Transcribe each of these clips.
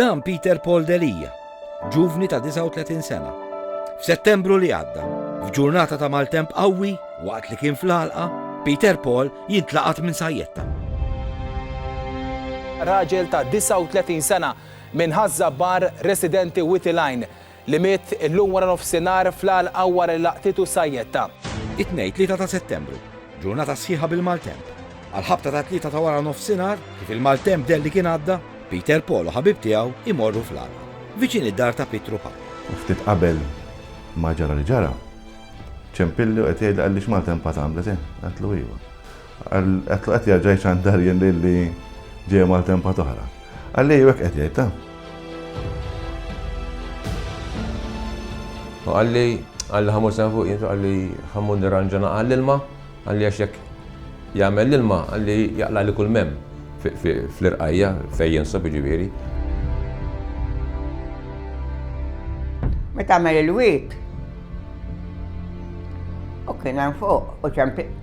Dan Peter Paul Delia, ġuvni ta' 39 sena. F'Settembru li għadda, f'ġurnata ta' maltemp qawwi waqt li kien fl-għalqa, Peter Paul jintlaqat minn sajjetta. Raġel ta' 39 sena minn Ħaż-Żabbar residenti Witilajn li miet illum waranofsinhar fl-għalqa wara li laqtitu sajjetta. It-Tnejn 3 ta' Settembru, ġurnata sħiħa bil-maltemp. Għall-ħabta tat-tlieta ta' waranofsinhar, kif il-maltemp deher li kien għadda, Peter Paul u ħabib tiegħu jmorru fl-għalqa, viċin id-dar ta' Pietru Paul. U ftit qabel ma ġara li ġara, ċempilli u qed jgħidli qalli x'maltempat għamlet hi? Għedtlu iva. Għetlu qed jerġa' jċandar jien lili ġej maltempa toħra. Għalli hekk qed jgħid ta'. U għalli għalli ħamur sen fuq jintu għalli ħamur nirranġana għall-ilma għalli għax jekk jagħmel l-ilma għalli jaqla li kull mem fl-irqajja fej jinsob ġiviri. Meta għamel il-wit, u kien fuq u ċempi.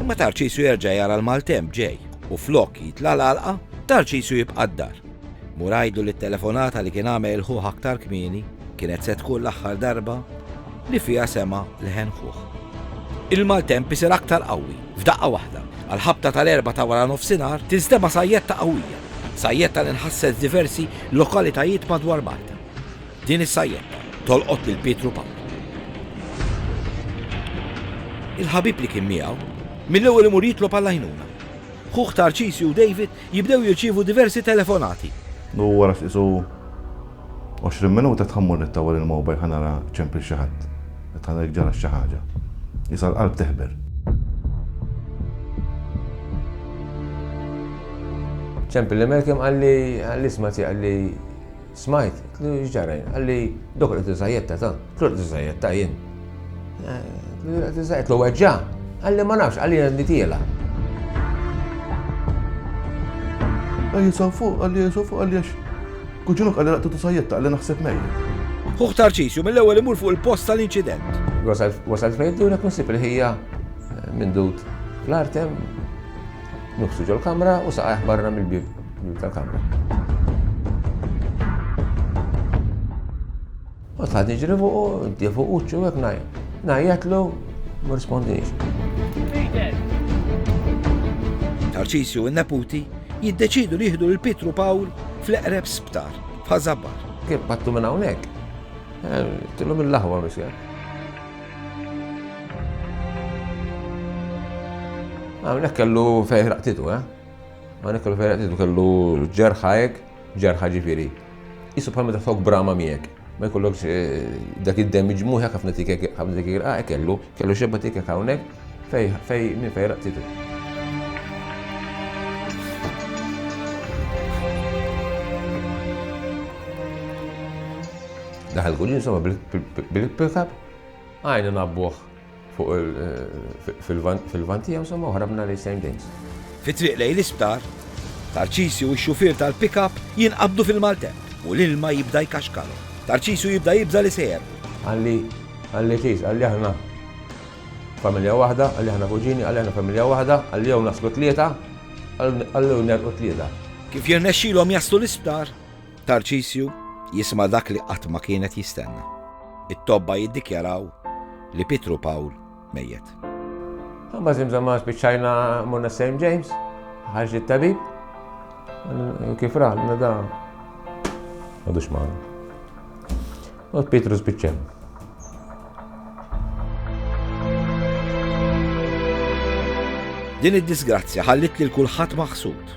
Imma Tarċisju jerġa' jara l-maltemp ġej u flok jitla' l-għalqa, Tarċisju jibqa' d-dar. Mur għidlu li t-telefonata li kien għamel ħuh aktar kmieni kienet se tkun l-aħħar darba li fiha sema' leħen ħuh. Il-maltemp isir aktar qawwi f'daqqa waħda. Għall-ħabta tal-erbgħa ta' waranofsinhar tinstema' sajjetta qawwija. Sajjetta li nħasset f'diversi lokalitajiet madwar Malta. Din is-sajjetta tolqot lil Pietru Pawlu. Il-ħabib li kien miegħu, mill-ewwel imur jitlob għall-għajnuna. Ħuh Tarċisju u David jibdew jirċievu diversi telefonati. U wara ftit u għoxrin minuta tħa mmur nittawa lil mobile ħa nara ċempil xi ħadd, qed ħa nara jekk ġara xi ħaġa. Qisha l-qalb teħber. Ċempil li Malcolm qalli, qalli isma' tiegħi, qalli, Smajt, qtlu x'ġara jien, qalli dok qed iżajjetta ta, qtlu qed iżajjetta jien. Qtlu qed iżajjetta, qtlu weġġa, qalli ma nafx, qalli jien nitiela. Qalli saw fuq, qalli saw fuq, qalli għax kuġinuk qalli laqtu tiżajjetta, qalli naħseb mejjed. Ħuħ Tarċisju mill-ewwel imur fuq il-post tal-inċident. Wasalt fejn dwrek nisib il-ħija minn dud l-artem Nuħsu ġol-kamra u saqajh barra mill-bieb tal-kamra. U tħad iġri fuqu, inti fuq uċċu hekk ngħid. Ngħidlu ma rispondix. Tarsisju u n-neputi jiddeċidu li jieħdu lil Pietru Pawl fl-eqreb sptar f'Ħażabar. Kif pattu minn hawnhekk? Eh, Tilhom il-laħwa misja. Hawnhekk kellu fejn raqtitu, eh? Hawnhekk kellu fejn raqtitu kellu ġerħajek, ġerħa ġifieri. Isu bħal meta fok brama miegħek. Ma jkollokx eh, dak id-damage mhu hekk ħafna tikek ħafna tikek ah, kellu, kellu xebba tikek hawnhekk fej fej minn fej raqtitu. Daħal Guglielmo bil-pickup, għajna nabbuħ fil-van tiegħu somma u ħrabna li same days. Fi triq lejn l-isptar, Tarċisju u x-xufier tal-pickup jinqabdu fil-maltemp u l-ilma jibda jkaxkalu. Tarċisju jibda jibda li sejer. Għalli, għalli ċis, għalli aħna familja waħda, għalli aħna kuġini, għalli aħna familja waħda, għalli jew naslu tlieta, għalli u nerqu tlieta. Kif jirnexxilhom jaslu l-isptar, Tarċisju jisma' dak li qatt ma kien qed jistenna, it-tobba jiddikjaraw li Pietru Pawl mejjet. Imbagħad żimżamma spiċċajna morna St. James, ħarġ it-tabib, kif ra, nada, għadux maħna. U Pietru spiċċajna. Din id-disgrazzja ħallit lil kulħadd maħsud.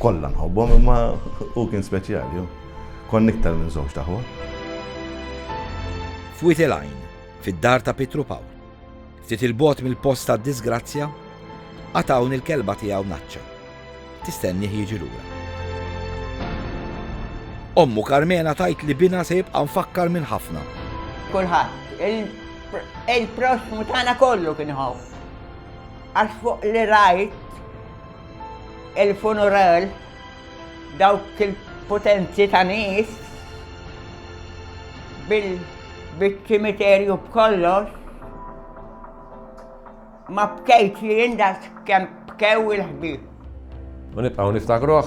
Kollha nħobbhom imma hu kien speċjali. Konna iktar minn żewġt aħwa. F'wied il-għajn, fid-dar ta' Pietru Pawl, ftit il-bogħod mill-post tad-diżgrazzja, għad hawn il-kelba tiegħu Naċċa. Tistennih jiġi lura. Ommu Karmena tajt li bina se jibqa' mfakkar minn ħafna. Kulħadd, il-proxmu tagħna kollu kien ħobb. Għax fuq li rajt Il-funeral dawk il-potenzi ta' nies bil-ċimiterju b'kollox ma bkejtx jien daqs kemm bkew il-ħbieb. U nibqgħu niftakruh?